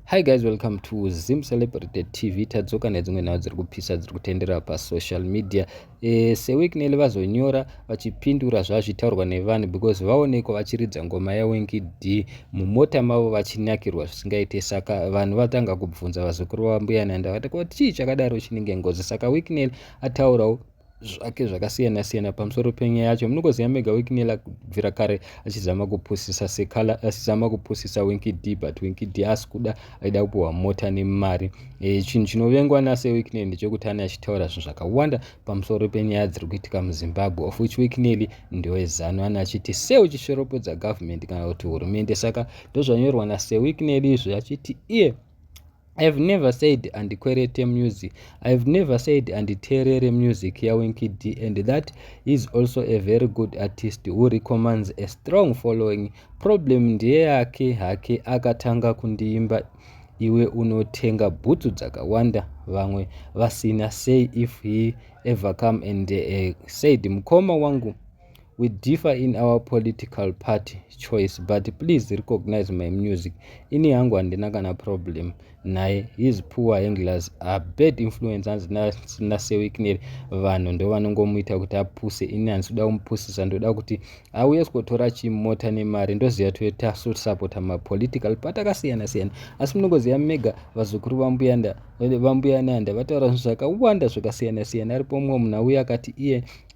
Hi guys, welcome to Zim Celebrity TV. Tadzoka nedzimwe nhau dziri kupisa dziri kutendera pasocial media. E, seWicknell vazonyora vachipindura zvazvitaurwa nevanhu because vaonekwa vachiridza ngoma yaWinky D mumota mavo vachinyakirwa zvisingaite saka vanhu vatanga kubvunza vazukuru vambuya Nanda vati ko chii chakadaro chinenge ngozi saka Wicknell ataurawo zvake zvakasiyana siyana pamusoro penyaya yacho munokoziva mega wikinela kubvira kare achizama kupusisa sekala achizama kupusisa winky d but winky d asi kuda aida kupiwa mota nemari e, chinhu chinovengwa nase wikineli ndechekuti ane achitaura zvinhu zvakawanda pamusoro penyaya dziri kuitika muzimbabwe of which wikineli ndewezano ane achiti se uchisveropodza government kana kuti hurumende saka ndozvanyorwa nase wikineli izvi achiti iye yeah. I have never said and kwerete music. I have never said and terere music ya Winky D and that is also a very good artist who recommends a strong following. Problem ndiye yake hake akatanga kundiimba iwe unotenga bhutsu dzakawanda vamwe vasina say if he ever come and uh, said mukoma wangu we differ in our political party choice but please recognize my music ini yangu handina kana problem naye his poor handlers are bad influence hanzi nasewickneri vanhu ndovanongomuita kuti apuse ini hanzi kuda kumupusisa ndoda kuti auye sikotora chimota nemari ndoziva toita sotisapota mapolitical part akasiyana siyana asi munongoziva mega vazukuru vambuyanda vambuya nanda vataura zvinhu zvakawanda zvakasiyana siyana aripo mumwe munhu auye akati iye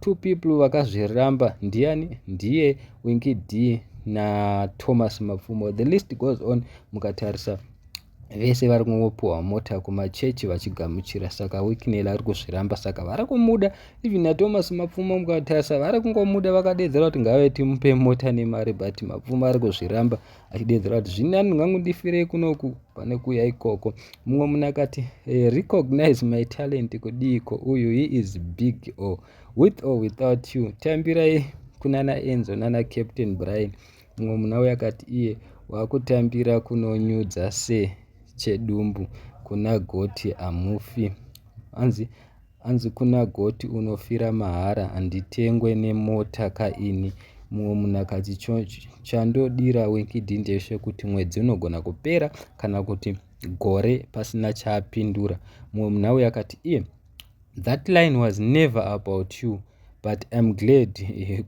Two people vakazviramba ndiani ndiye Winky D na Thomas Mapfumo. The list goes on mukatarisa vese vari kungopuhwa mota kumachechi vachigamuchira saka wikinel ari kuzviramba saka vari kumuda even nathomas mapfumo mukatasa vari kungomuda vakadedzera kuti ngave timupe mota nemari but mapfumo ari kuzviramba achideedzera kuti zvini ani ngangu ndifirei kunoku pane kuya ikoko mumwe munhu akati eh, recognize my talent kudiiko uyu he is big o oh. with or without you tambirai kunana enzo nana captain brian mumwe munhu auya akati iye wakutambira kunonyudza se chedumbu kuna goti amufi hanzi Hanzi kuna goti unofira mahara handitengwe nemota ka ini mumwe munhu akati chandodira winkidi ndeshe kuti mwedzi unogona kupera kana kuti gore pasina chaapindura mumwe munhu auya akati iye that line was never about you but im glad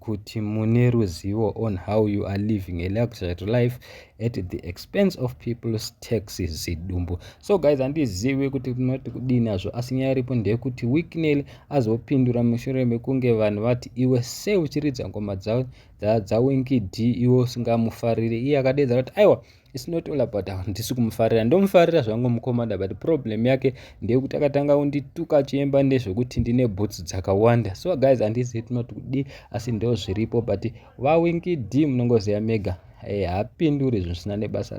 kuti mune ruzivo on how you are living a luxury life at the expense of people's taxes zidumbu so guys handizivi kuti tinoti kudii nazvo asi nyaya iripo ndeyekuti wicknel azopindura mushure mekunge vanhu vati iwe sei uchiridza ngoma dzawinki d iwe usingamufarire iye akadeedza kuti aiwa It's not all about handisi kumufarira ndomufarira zvangu mukomana but problem yake ndeyekuti akatanga kundituka achiemba nezvekuti ndine bhutsu dzakawanda so guys handisi it not kudi asi ndo zviripo but vawinki d munongoziva mega eh, haapinduri zvisina nebasa